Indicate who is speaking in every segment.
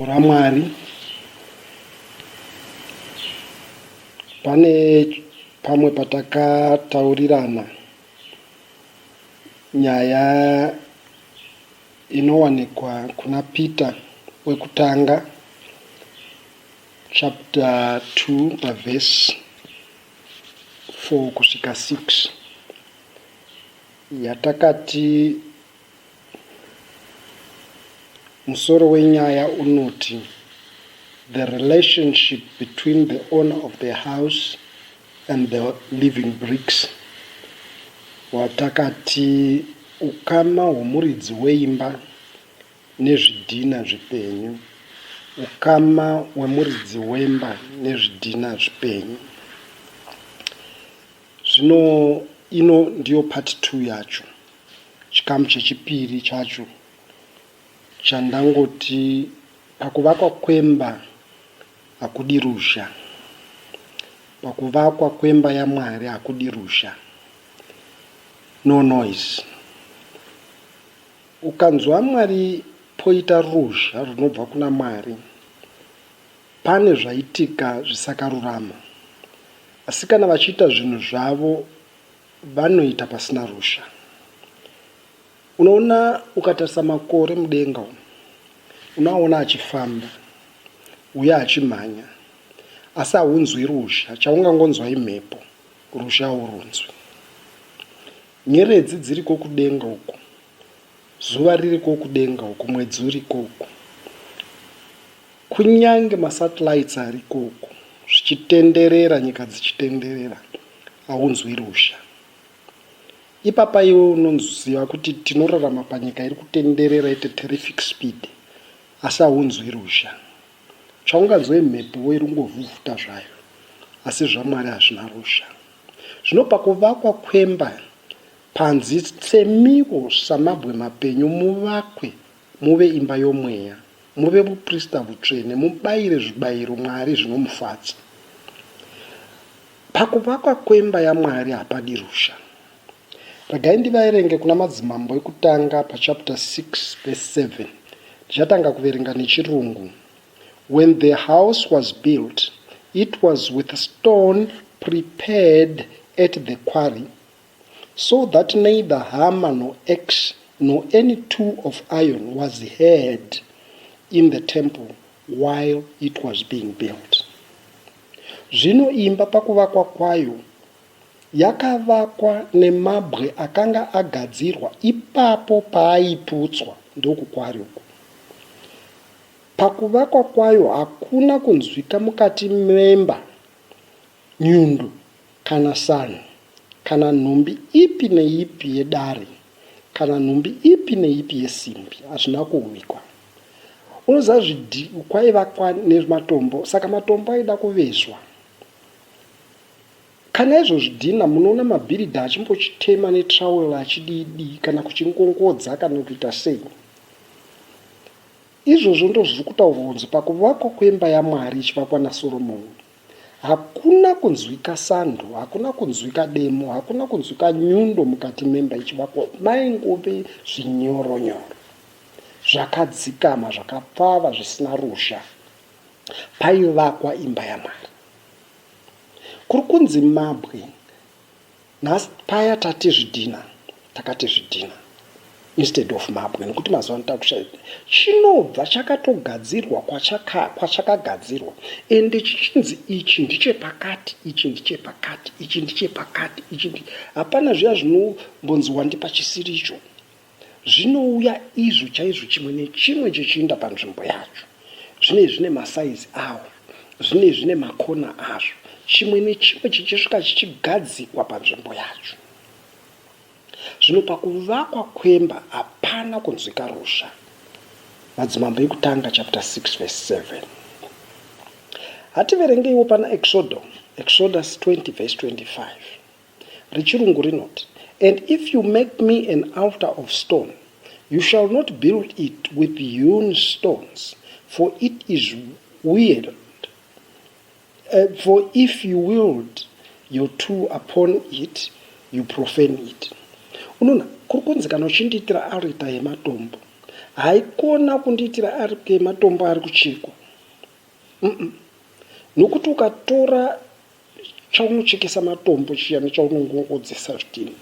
Speaker 1: ramwari pane pamwe patakataurirana nyaya inowanikwa kuna peter wekutanga chapter 2 pavhesi 4 kusvika 6 yatakati musoro wenyaya unoti the relationship between the owner of the house and the living bricks watakati ukama hwomuridzi weimba nezvidhina zvipenyu, ukama wemuridzi wemba nezvidhina zvipenyu. Zvino ino ndiyo part 2 yacho, chikamu chechipiri chacho chandangoti pakuvakwa kwemba hakudi ruzha, pakuvakwa kwemba yaMwari hakudi ruzha, no noise. Ukanzwa Mwari poita ruzha runobva kuna Mwari pane zvaitika zvisakarurama asi kana vachiita zvinhu zvavo vanoita pasina ruzha. Unoona ukatarisa makore mudenga umu unoaona achifamba uye achimhanya asi haunzwi ruzha chaungangonzwa imhepo ruzha haurunzwi. Nyeredzi dziriko kudenga uko, zuva ririko kudenga uko, mwedzi uriko uko, kunyange masatellites ariko uko, zvichitenderera, nyika dzichitenderera, haunzwi ruzha. Ipapa iwe unoziva kuti tinorarama panyika iri kutenderera at a terrific speed, asi haunzwi ruzha. Chaunganzwa imhepo iri kungovhuvhuta zvayo, asi zvaMwari hazvina ruzha. Zvino pakuvakwa kwemba panzi tsemiwo samabwe mapenyu muvakwe muve imba yomweya, muve vuprista vutsvene, mubayire zvibayiro Mwari zvinomufadza. Pakuvakwa kwemba yaMwari hapadi ruzha. Regai ndivaerenge kuna Madzimambo ekutanga pachapter 6 verse 7. Ndichatanga kuverenga nechirungu. When the house was built it was with stone prepared at the quarry so that neither hammer no ax no any tool of iron was heard in the temple while it was being built. Zvino imba pakuvakwa kwayo yakavakwa nemabwe akanga agadzirwa ipapo paaiputswa ndokukwarikwa. Pakuvakwa kwayo hakuna kunzwika mukati memba nyundu kana sanhu kana nhumbi ipi neipi yedare kana nhumbi ipi neipi yesimbi hazvina kuuikwa. Unoziva zvidhi kwaivakwa nematombo saka matombo aida kuvezwa. Kana izvo zvidhina munoona mabhiridha achimbochitema netrowel achidii dii kana kuchingongodza kana kuita sei. Izvozvo ndozviri kutaurwa kunzi pakuvakwa kwemba yaMwari ichivakwa naSoromoni, hakuna kunzwika sando, hakuna kunzwika demo, hakuna kunzwika nyundo mukati memba ichivakwa, maingove zvinyoronyoro zvakadzikama, zvakapfava, zvisina ruzha paivakwa imba yaMwari. Kuri kunzi mabwe Nhasi paya tati zvidhina takati zvidhina instead of mabwe nekuti mazuva ano takushaya chinobva chakatogadzirwa kwachakagadzirwa kwachaka ende chichinzi ichi ndichepakati ichi ndichepakati ichi ndichepakati ichi hapana zviya zvinombonzi wandipa chisiricho Zvinouya izvo chaizvo chimwe nechimwe chichiinda panzvimbo yacho. Zvinei zvine masaizi awo, zvinei zvine makona azvo, chimwe nechimwe chichisvika chichigadzikwa panzvimbo yacho. Zvino pakuvakwa kwemba hapana kunzwika ruzha. Madzimambo ekutanga chapter 6 verse 7. Hativerengeiwo pana Exodo, Exodus 20 verse 25. rechirungu rinoti and if you make me an altar of stone you shall not build it with hewn stones for it is weird uh, eh, for if you willed your two upon it you profane it unoona kuri kunzi kana uchindiitira arita yematombo haikona kundiitira arita yematombo ari kuchekwa nokuti ukatora chaunochekesa matombo chiya nechaunongongodzesa zvidhina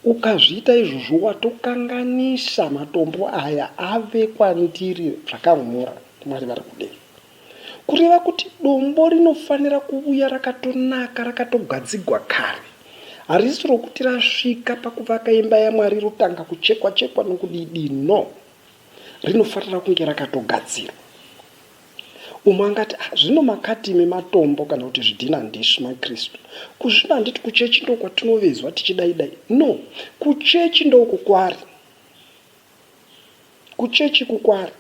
Speaker 1: ukazviita izvozvo watokanganisa matombo aya ave kwandiri zvakang'ora mwari vari kudei kureva kuti dombo rinofanira kuvuya rakatonaka rakatogadzigwa kare harisi rokuti rasvika pakuvaka imba yamwari rotanga kuchekwa chekwa nokudidi no rinofanira kunge rakatogadzirwa Umwe angati, ah, zvino makati imi matombo kana kuti zvidhina handisu maKristu. Kuzvino handiti kuchechi ndoo kwatinovezwa tichidaidai. No, kuchechi ndoo kukwari. Kuchechi kukwari.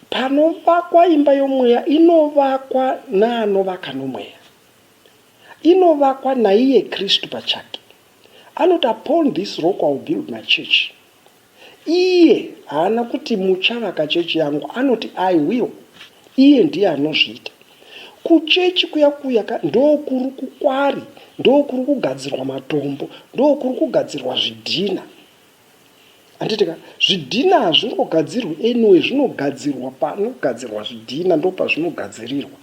Speaker 1: Panovakwa imba yomweya inovakwa naanovaka nomweya. Inovakwa naiye Kristu pachake. Anoti, upon this rock I will build my church. Iye haana kuti muchavaka chechi yangu anoti I will. Iye ndiye anozviita. Kuchechi kuya kuya ka ndokuri kukwari, ndokuri kugadzirwa matombo, ndokuri kugadzirwa zvidhina. Handiti ka zvidhina hazvingogadzirwi anyway zvinogadzirwa panogadzirwa zvidhina ndopazvinogadzirirwa.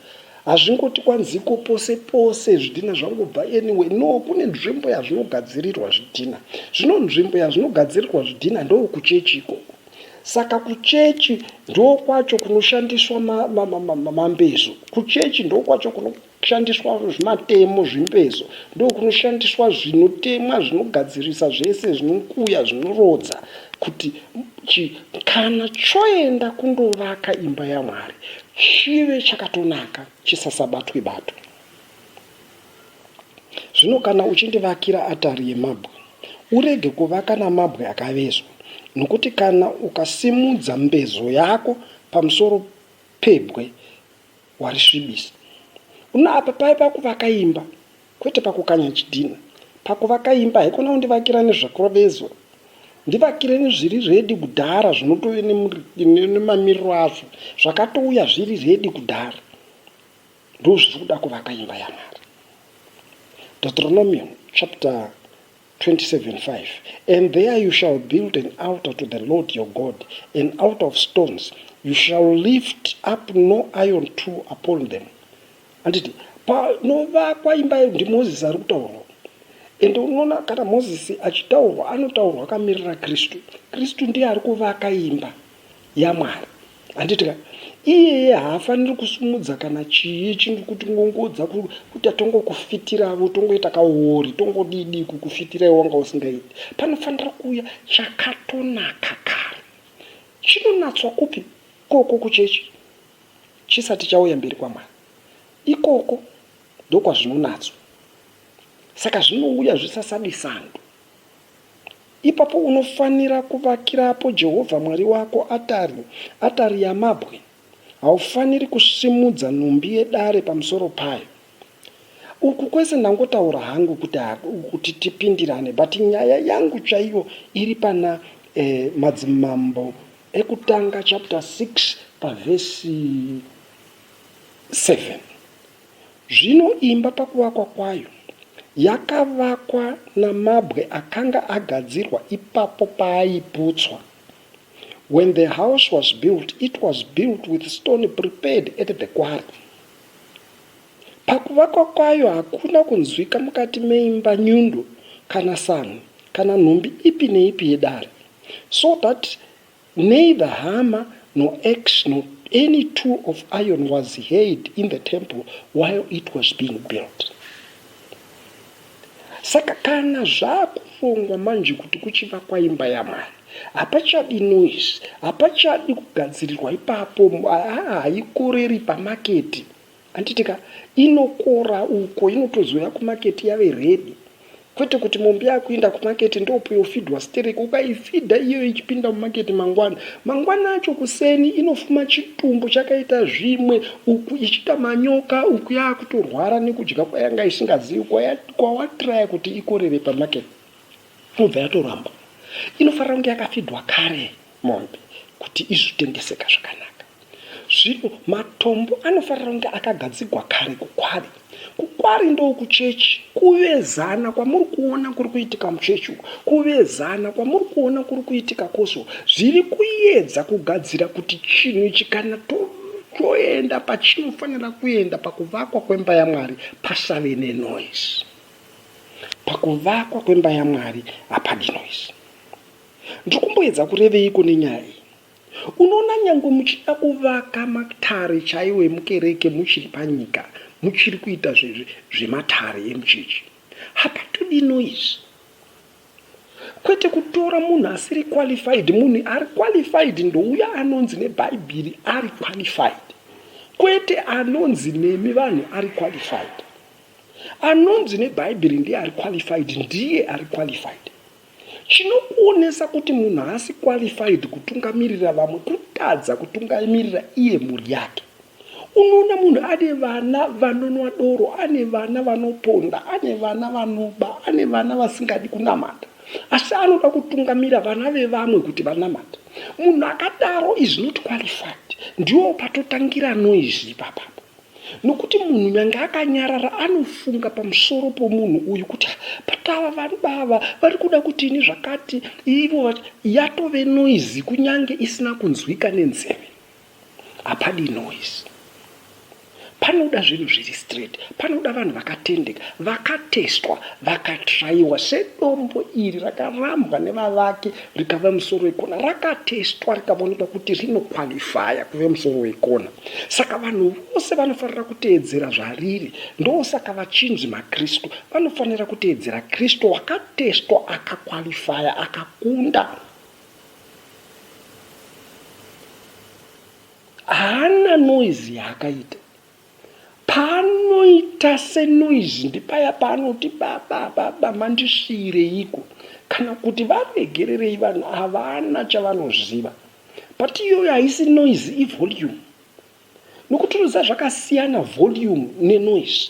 Speaker 1: Hazvingoti kwanziko pose pose zvidhina zvangobva anyway no kune nzvimbo yazvinogadzirirwa zvidhina zvino nzvimbo yazvinogadzirirwa zvidhina ndokuchechi ikoko saka kuchechi ndokwacho kunoshandiswa mambezo kuchechi ndokwacho kunoshandiswa zvimatemo zvimbezo ndokunoshandiswa zvinotemwa zvinogadzirisa zvese zvinokuya zvinorodza kuti kana choenda kundovaka imba yamwari Chive chakatonaka chisasabatwe batwe. Zvino kana uchindivakira atari yemabwe, urege kuvaka namabwe akavezwa, nokuti kana ukasimudza mbezo yako pamusoro pebwe, warisvibisa. Uno apa paiva kuvaka imba, Kwete pakukanya chidhina. Pakuvaka imba haikona kundivakira nezvakurovezwa. Ndivakire nezviri redi kudhara zvinotove nemamiriro azvo zvakatouya zviri redi kudhara. Ndozviri kuda kuvaka imba yaMwari. Deuteronomy chapter 27:5 And there you shall build an altar to the Lord your God, an altar of stones. You shall lift up no iron tool upon them. handiti panovakwa imba yedu ndimozisi ari kutaurwa ende unoona kana mozisi achitaurwa anotaurwa akamirira kristu kristu ndiye ari kuvaka imba yamwari handiti ka iyeye haafaniri kusumudza kana chii chinhu kuti ngongodza kuti atongokufitiravo tongoita kaori tongodidi kukufitirai wanga usingaiti panofanira kuuya chakatonaka kare chinonatswa kupi koko kuchechi chisati chauya mberi kwaMwari. Ikoko ndokwazvinonatswa. Saka zvinouya zvisasadi sando. Ipapo unofanira kuvakirapo Jehovha Mwari wako atari, atari yamabwe. Haufaniri kusimudza nhumbi yedare pamusoro payo. Uku kwese ndangotaura hangu kuti kuti tipindirane but nyaya yangu chaiyo iri pana eh, madzimambo ekutanga chapter 6 pavhesi 7 zvino imba pakuvakwa kwayo yakavakwa namabwe akanga agadzirwa ipapo paaiputswa when the house was built it was built with stone prepared at the quarry Pakuvakwa kwayo hakuna kunzwika mukati meimba nyundo kana samhu kana nhumbi ipi neipi yedare so that neither hammer nor axe nor any tool of iron was heard in the temple while it was being built. Saka kana zvakurongwa manje kuti kuchivakwa imba yamai hapachadi noise hapachadi kugadzirirwa ipapo haikoreri pamaketi anditika inokora uko inotozouya kumaketi yave redi kwete kuti mombe yakuenda kumaketi ndopuyofidwa sterek ukaifidha iyo ichipinda mumaketi mangwana mangwana acho kuseni inofuma chitumbu chakaita zvimwe uku ichiita manyoka uku yaakutorwara nekudya kwayanga isingazivi kwawatraya kuti ikorere pamarket inobva yatoramba inofanira kunge yakafidwa kare mombe kuti izvitendeseka zvakanaka zvino matombo anofanira kunge akagadzigwa kare kukwari kukwari ndokuchechi kuvezana kwamuri kuona kuri kuitika muchechi uku kuvezana kwamuri kuona kuri kuitika koso zviri kuyedza kugadzira kuti chinhu ichi kana toenda pachinofanira kuenda pakuvakwa kwemba yamwari pasave nenoise pakuvakwa kwemba yamwari hapadi noise ndiri kumboedza kureveiko nenyaya iyi Unoona nyangwe muchida kuvaka matare chaiwo emukereke muchiri panyika muchiri kuita zvematare emuchechi. Hapatodi noise. Kwete kutora munhu asiri qualified, munhu ari qualified ndouya anonzi nebhaibhiri ari qualified. Kwete anonzi nemi vanhu ari qualified. Anonzi nebhaibhiri ndiye ari qualified, ndiye ari qualified. Chinokuonesa kuti munhu haasi qualified kutungamirira vamwe kutadza kutungamirira iye mhuri yake. Unoona munhu ane vana vanonwa doro, ane vana vanoponda, ane vana vanoba, ane vana vasingadi kunamata, asi anoda kutungamira vana vevamwe kuti vanamata. Munhu akadaro is not qualified. Ndiwo patotangira noise ipapapa. Nokuti munhu nyange akanyarara anofunga pamusoro pomunhu uyu kuti but ava vanhu bava vari kuda kuti ini zvakati ivo yatove noise kunyange isina kunzwika nenzeve hapadi noise panoda zvinhu zviri straight panoda vanhu vakatendeka vakatestwa vakatraiwa sedombo iri rakarambwa nevavaki rikava musoro wekona rakatestwa rikavonekwa kuti rinokwalifaya kuve musoro wekona saka vanhu vose vanofanira kuteedzera zvariri ndosaka vachinzi makristu vanofanira kuteedzera kristu wakatestwa akakwalifaya akakunda haana noizi yaakaita Paanoita senoise ndipaya paanoti baba baba mandisiireiko kana kuti varegererei vanhu havana chavanoziva but iyoyo haisi noise ivolume nokuti unoziva zvakasiyana volume nenoise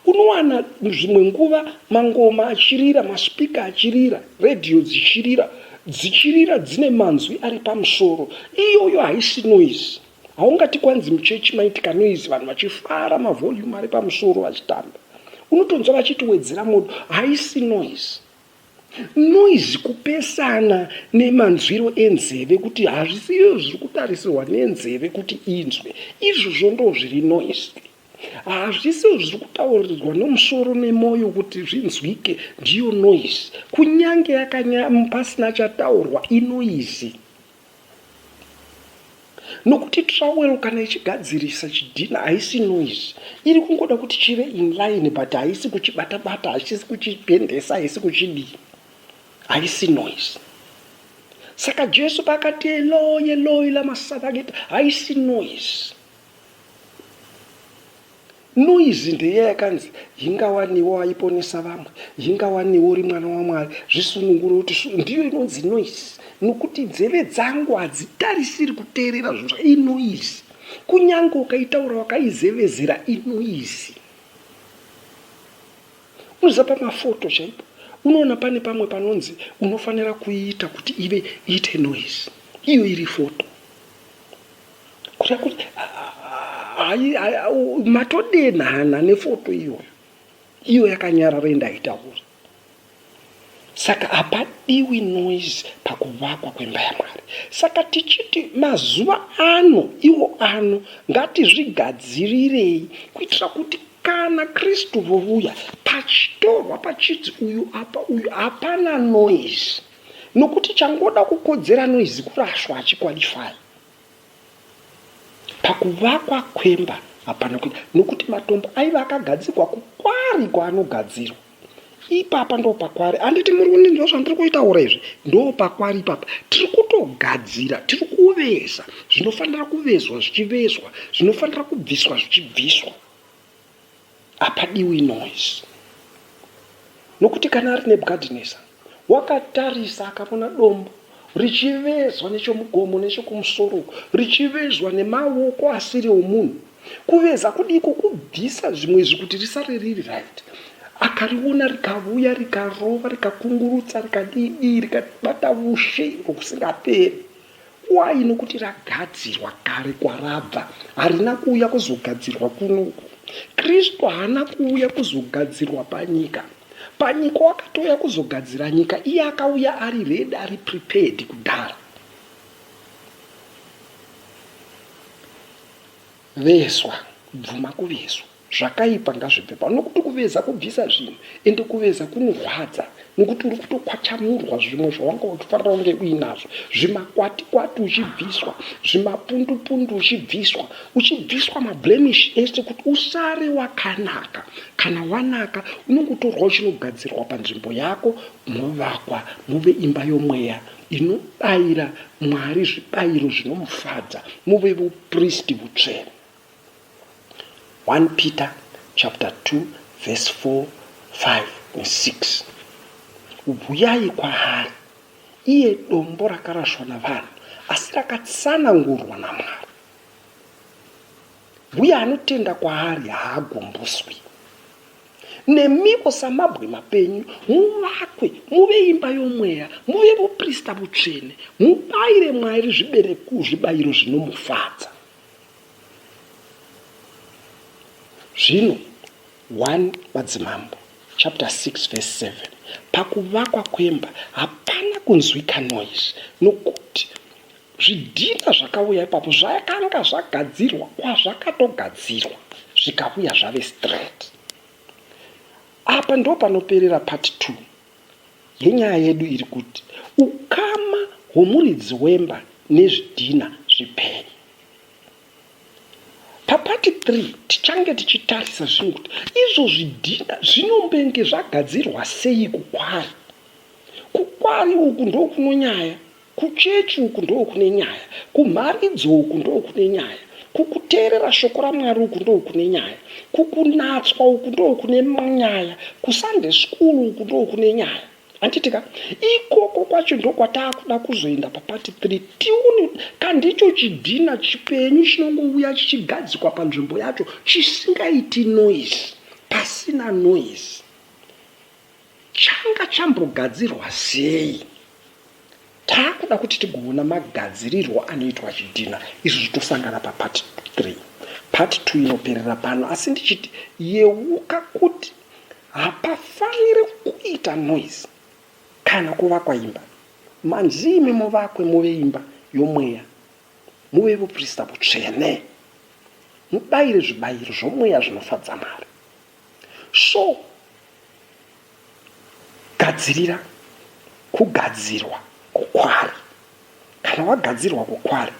Speaker 1: Unowana zvimwe nguva mangoma achirira, maspeaker achirira, radio dzichirira, dzichirira dzine manzwi ari pamusoro. Iyoyo haisi noise. Haungati kwanzi muchechi maitika noise vanhu vachifara mavolume ari pamusoro vachitamba. Unotonzwa vachiti wedzera modo, haisi noise noise kupesana nemanzwiro enzeve kuti hazvisiyo zviri kutarisirwa nenzeve kuti inzwe izvozvo ndo zviri noise Hazvisiwo zviri kutauridzwa nomusoro nemoyo kuti zvinzwike, ndiyo noise. Kunyange pasina chataurwa, inoizi. Nokuti trawel kana ichigadzirisa chidhina haisi noise. Iri kungoda kuti chive in line but haisi kuchibata-bata, haisi kuchipendesa, haisi kuchidii. Haisi noise. Saka Jesu pakati eloi eloi lama sabakita haisi noise. Noise ndeiya yakanzi hingawaniwo aiponesa vamwe, hingawaniwo uri mwana waMwari, zvisunungure kuti su, ndiyo inonzi noise nokuti nzeve dzangu hadzitarisiri kuteerera zvinhu zva inoise. Kunyange ukaitaura wakaizevezera inoise. Unoziva pamafoto chaipo unoona pane pamwe panonzi unofanira kuiita kuti ive iite noise iyo iri foto Kutya kuti hayi matodenhana nefoto iyoyo iyo yakanyarara indaitaura saka hapadiwi noise pakuvakwa kwemba yamwari saka tichiti mazuva ano iwo ano ngatizvigadzirirei kuitira kuti kana kristu vovuya pachitorwa pachidzi uyu apa uyu hapana noise nokuti changoda kukodzera noise kurashwa achikwalifai pakuvakwa kwemba hapana kuita nokuti matombo aiva akagadzirwa kukwari kwaanogadzirwa ipapa ndo pakwari handiti muri kuninzwa zvandiri kuitaura izvi ndo pakwari ipapa tiri kutogadzira tiri kuveza zvinofanira kuvezwa zvichivezwa zvinofanira kubviswa zvichibviswa Hapadiwi noise. Nokuti kana ari Nebukadinesa wakatarisa akavona dombo richivezwa nechomugomo nechokumusoro uko richivezwa nemawoko asiri omunhu kuveza kudiko kubvisa zvimwe izvi kuti risare riri right akariona rikavuya rikarova rikakungurutsa rikadidii rikabata vushe uko kusingaperi Why nokuti ragadzirwa kare kwarabva harina kuuya kuzogadzirwa kunoku. Kristu haana kuuya kuzogadzirwa panyika. Panyika wakatouya kuzogadzira nyika iye akauya ari redi ari prepared kudhara. Veswa, bvuma kuveswa. Zvakaipa ngazvibve pano nokuti kuveza kubvisa zvinhu ende kuveza kunorwadza nokuti uri kutokwachamurwa zvimwe zvawanga uchifarira unge uinazvo zvimakwati kwati uchibviswa zvimapundu pundu uchibviswa uchibviswa mablemish ese kuti usare wakanaka kana wanaka unongotorwa uchinogadzirwa panzvimbo yako movakwa move imba yomweya inobayira mwari zvibayiro zvinomufadza move vupristi vutsvene 1 Peter chapter 2 verse 4, 5 and 6. Huyai kwaari, iye dombo rakarashwa navanhu, asi rakatsanangurwa naMwari. Uye anotenda kwaari haagumbuswi. Nemiwo samabwe mapenyu, muvakwe, muve imba yomweya, muve vuprista vutsvene, mubayire Mwari zvibereko zvibayiro zvinomufadza. zvino 1 madzimambo chapter 6 verse 7 pakuvakwa kwemba hapana kunzwika noise nokuti zvidhina zvakauya ipapo zvakanga zvagadzirwa kwazvakatogadzirwa zvikauya zvave straight apa ndo panoperera part 2 Yenyaya yedu iri kuti ukama hwomuridzi wemba nezvidhina zvipenyu. Papati 3 tichange tichitarisa zvinhu kuti izvo zvidhina zvinombenge zvagadzirwa sei kukwari. Kukwari uku ndokunonyaya Kuchechi uku ndokune nyaya, kumharidzo uku ndokune nyaya, kukuteerera shoko raMwari uku ndokune nyaya, kukunatswa uku ndokune nyaya, kuSunday school uku ndokune nyaya. Handiti ka? Ikoko kwacho ndokwataakuda kuzoenda papati 3 tione kandicho chidhina chipenyu chinongouya chichigadzikwa panzvimbo yacho chisingaiti noise, pasina noise. Changa chambogadzirwa sei? Taakuda kuti tigoona magadzirirwo anoitwa chidhina izvozvi tosangana papart 3. Part 2 inoperera pano asi ndichiti yeuka kuti hapafaniri kuita noise kana kuvakwa imba. Manzi imi muvakwe muve imba yomweya, muve vuprista vutsvene, mubayire zvibayiro zvomweya zvinofadza Mwari. So gadzirira kugadzirwa kukwari. Kana wagadzirwa kukwari,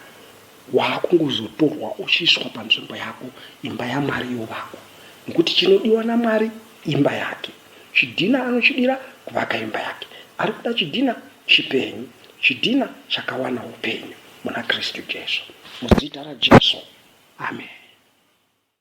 Speaker 1: waakungozotorwa uchiiswa panzvimbo yako, imba yaMwari yovakwa. Nokuti chinodiwa naMwari imba yake. Chidhina anochidira kuvaka imba yake. Ari kuda chidhina chipenyu, chidhina chakawana upenyu muna Kristu Jesu. Muzita raJesu, ameni.